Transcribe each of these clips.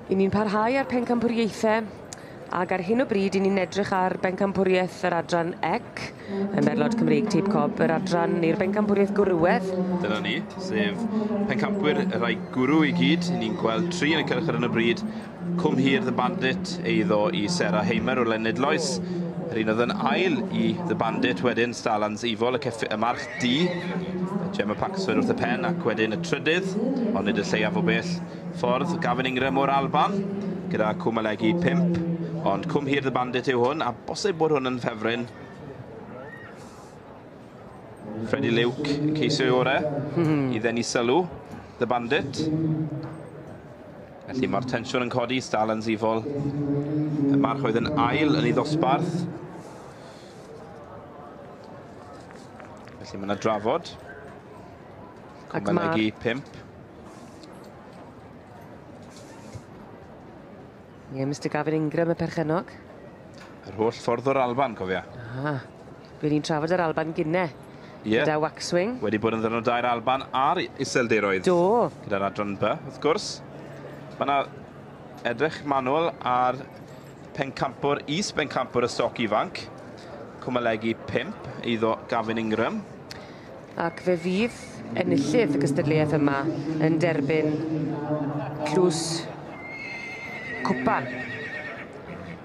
I ni'n parhau â'r pencampwriaethau ac ar hyn o bryd i ni'n edrych ar bencampwriaeth yr adran EC, y merlod Cymreig Teip Cob, yr adran i'r bencampwriaeth gwrywedd. Dyna ni, sef pencampwyr y rhai gwrw i gyd. Ni'n gweld tri yn y cylch ar hyn o bryd Cwm Hir The Bandit, eiddo i Sarah Hamer o Lenydloes. Yr un oedd yn ail i The Bandit wedyn, Starlands Evil, y, y March D, Gemma Paxman wrth y pen ac wedyn y trydydd, ond nid y lleiaf o bell ffordd, Gavin Ingram o'r Alban, gyda Cwm Alegi 5. Ond Cwm Hir The Bandit yw hwn, a bosib bod hwn yn ffefryn. Freddie Luke yn ceisio ei orau hmm. i ddenu sylw, The Bandit. Felly mae'r tensiwn yn codi, Stal yn sifol. Y march oedd yn ail yn ei ddosbarth. Felly mae yna drafod. Cwmbenegi 5. Ie, Mr Gavin Ingram, y perchenog. Yr holl ffordd o'r Alban, cofia. Ah. By ni'n trafod yr Alban gine yeah. gyda Waxwing. Wedi bod yn ddyrnod dair Alban ar iseldiroedd. Do. Gyda'r adran by, wrth gwrs. Mae yna edrych manwl ar pencampwr, is bencampwr y stoc ifanc. Cwmalegu 5 eiddo Gavin Ingram. Ac fe fydd enillydd y gystadleuaeth yma yn derbyn tlws cwpan.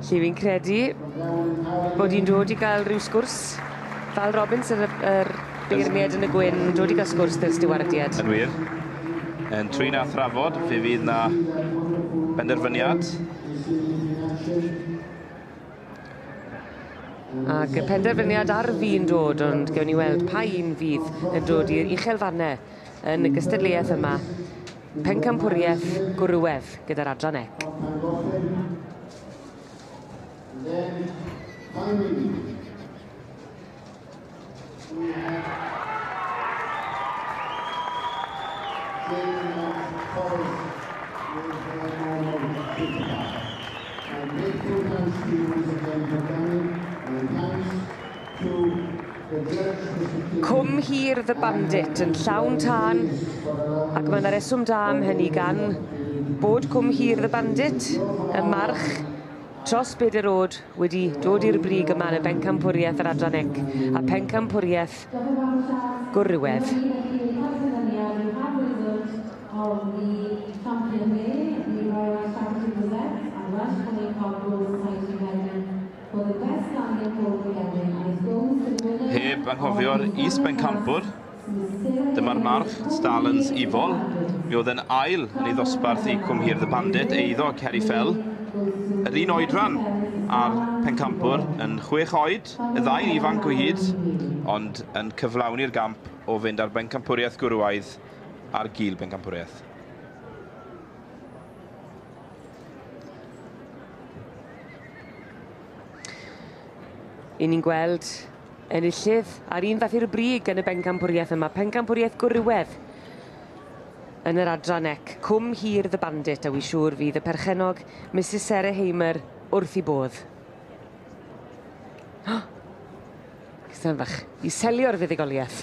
Lle fi'n credu bod hi'n dod i gael rhyw sgwrs. Val Robbins yr yy yr beirniad yn y gwyn yn dod i gael sgwrs 'da'r stiwardiad. Yn wir. Yn trin a thrafod fe fydd 'na benderfyniad. Ag y penderfyniad ar fin dod ond gewn ni weld pa un fydd yn dod i'r uchel fanne. yn y gystadleuaeth yma, Pencampwriaeth Gwrywedd gyda'r adran ec. Thank you. Cwm hir The Bandit yn llawn tân ac mae 'na reswm da am hynny gan bod Cwm hir The Bandit ym March tros Beder Road wedi dod i'r brig yma yn y Bencampwriaeth yr Adran Ec a Phencampwriaeth Gwrywedd. Heb anghofio'r is-bencampwr, dyma'r march, Stalans Ifol. Mi oedd yn ail yn ei ddosbarth i Cwm Hir The Bandit, eiddo Ceri Fell. Yr un oedran a'r pencampwr yn chwech oed, y ddau'n ifanc o hyd, ond yn cyflawni'r gamp o fynd â'r bencampwriaeth gwrywaidd ar gul bencampwriaeth. Yn ni'n gweld enillydd a'r un fath i'r brig yn y bencampwriaeth yma, pencampwriaeth gwrywedd yn yr adran ec, cwm hir The Bandit, a wy siŵr fydd y perchenog Mrs Sarah Hamer wrth i bodd. Cystan fach, i selio'r fuddugoliaeth.